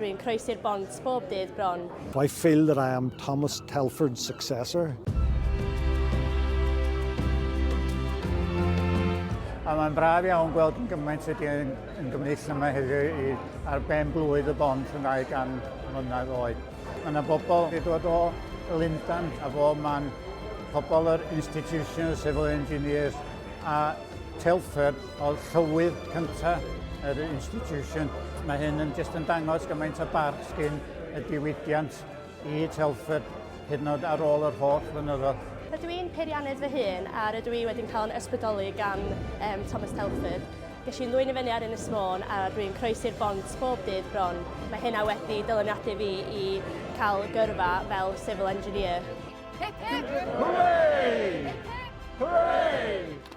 Rwy'n croesi'r bont bob dydd bron. I feel that I am Thomas Telford's successor. A mae'n braf iawn gweld yn gymaint ydy yn, yn gymryd yma heddiw i ar ben blwydd y bont yn ddau gan mlynedd oed. Mae yna bobl wedi dod o Lundan a fo man pobl yr Institution of Civil Engineers a Telford o llywydd cynta yr institution. Mae hyn yn jyst yn dangos gymaint o barch sgyn y diwydiant i Telford hyd yn oed ar ôl yr holl flynyddoedd. Rydw i'n peiriannydd fy hun a rydw i wedi'n cael yn ysbrydoli gan um, Thomas Telford. Ges i'n ddwyn i fyny ar Ynys Môn a rwy'n croesi'r bont bob dydd bron. Mae hynna wedi dyluniadu fi i cael gyrfa fel civil engineer. Hip hip! Hooray! Hip hip! Hooray!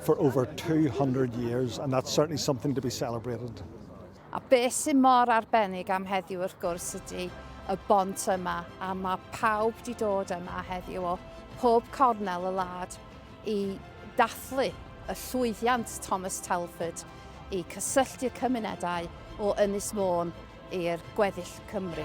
for over 200 years and that's certainly something to be celebrated. A beth sy'n mor arbennig am heddiw wrth gwrs ydy y bont yma a mae pawb di dod yma heddiw o pob cornel y lad i dathlu y llwyddiant Thomas Telford i cysylltu cymunedau o Ynys Môn i'r gweddill Cymru.